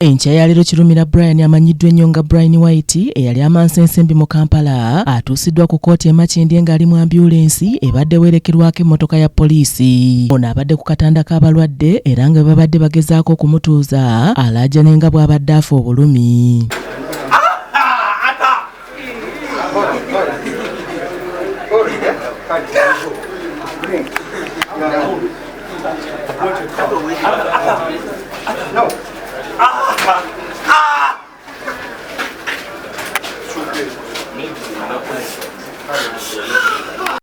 Enkya ya leero Kirumira Brian amanyiddwa ennyo nga Brian White eyali amansa ensimbi mu Kampala atuusiddwa ku kkooti e Makindye ng'ali mu ambyulensi ebadde weerekerwako emmotoka ya poliisi. Ono abadde ku katanda k'abalwadde era nga bwe babadde bagezaako okumutuuza alaajane nga bw'abadde afa obulumi.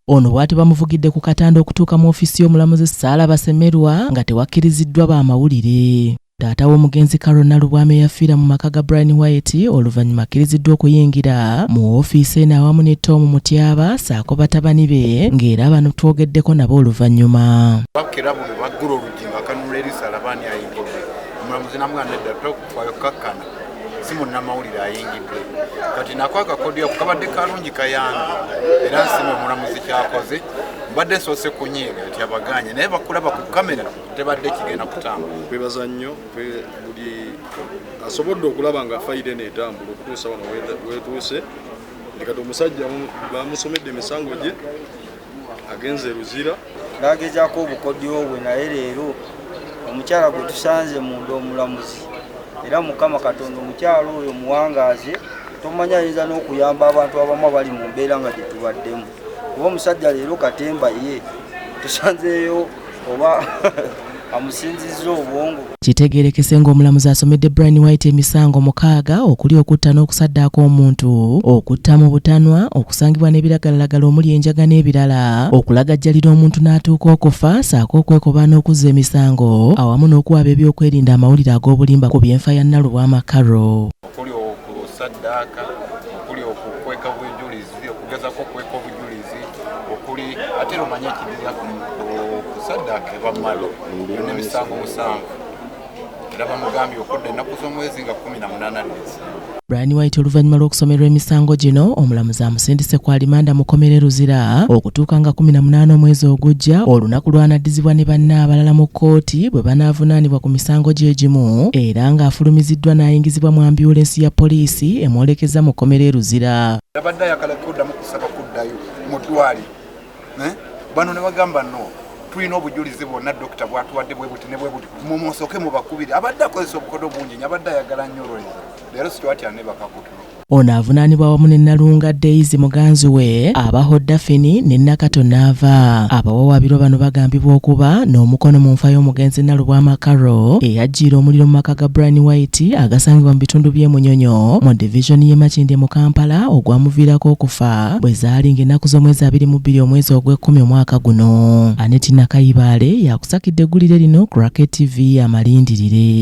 ono bwati bamuvugidde ku katanda okutuuka mu ofiisi y'omulamuzi Saala Basemerwa nga tewakkiriziddwa ba mawulire. Taata w'omugenzi Carol Nalubwama eyafiira mu maka ga Brian White oluvannyuma akkiriziddwa okuyingira mu woofiisi eno awamu ne Tom Mutyaba saako batabani be ng'era bano twogeddeko nabo oluvannyuma. Bakkira buli baggula oluggi nga kanula eriisa alaba ani ayingidde. Omulamuzi namugamba nedda tokufaayo kukakkana si munnamawulire ayingidde. Kati nako akakodyo ako kabadde kalungi kayambi era nsima omulamuzi kyakoze mbadde nsoose kunyiiga nti abagaanye naye bakulaba ku kamera. tebadde kigenda kutambula. Twebaza nnyo buli asobodde okulaba nga fayida eno etambula okutuusa wano wetuuse ndi kati omusajja bamusomedde emisango gye agenze eruzira nagezako obukodyo bwe naye leero omukyala gwe tusanze munda omulamuzi era mukama katonda omukyala oyo muwangaaze tomanya ayinza n'okuyamba abantu abamu abali mu mbeera nga gye tubaddemu kuba omusajja leero katemba ye tusanzeeyo oba amusinzizza obwongo kitegeerekese ng'omulamuzi asomedde brian white emisango mukaaga okuli okutta n'okusaddaaka omuntu okutta mu butanwa okusangibwa n'ebiragalalagala omuli enjaga n'ebirala okulagajjalira omuntu n'atuuka okufa saako okwekobaana okuzza emisango awamu n'okuwaaba ebyokwerinda amawulire ag'obulimba ku byenfa ya nnalubwa amakaro okuli okusaddaaka okuli okukweka obujulizi okugezako okukweka obujulizi okuli ate romanye ekidirira okusaddaaka eba malo nemisango musanvu era bamugambye okudda ennaku z'omwezi nga kumi na munaana nezi Brian White oluvannyuma lw'okusomerwa emisango gino omulamuzi amusindise ku alimanda mu kkomera e Luzira okutuuka nga 18 omwezi ogujja olunaku lw'anaddizibwa ne banne abalala mu kkooti bwe banaavunaanibwa ku misango gye gimu era ng'afulumiziddwa n'ayingizibwa mu ambyulensi ya poliisi emwolekezza mu kkomera e Luzira. Yabadde ayagala kuddamu kusaba kuddayo mu ddwaaliro eh? bano ne bagamba no tulina obujulizi bwonna dokita bwatuwadde bwe buti ne bwe buti mumusooke mubakubire abadde akozesa obukodo bungi nyo abadde ayagala nnyo olweza leero situwatya ne bakakutulo Ono avunaanibwa wamu ne Nalunga Daisy muganzi we abaho Daphine ne Nakato Naava. Abawawaabirwa bano bagambibwa okuba n'omukono mu nfa y'omugenzi Nalubwama Carol eyajjiira omuliro mu maka ga Brian White agasangibwa mu bitundu by'e Munyonyo mu divizoni y'e Makindye mu Kampala ogwamuviirako okufa bwe zaali ng'ennaku z'omwezi abiri mu bbiri omwezi ogw'ekkumi omwaka guno. Annet Nakayibaale y'akusakidde eggulire lino ku Racket TV amalindirire.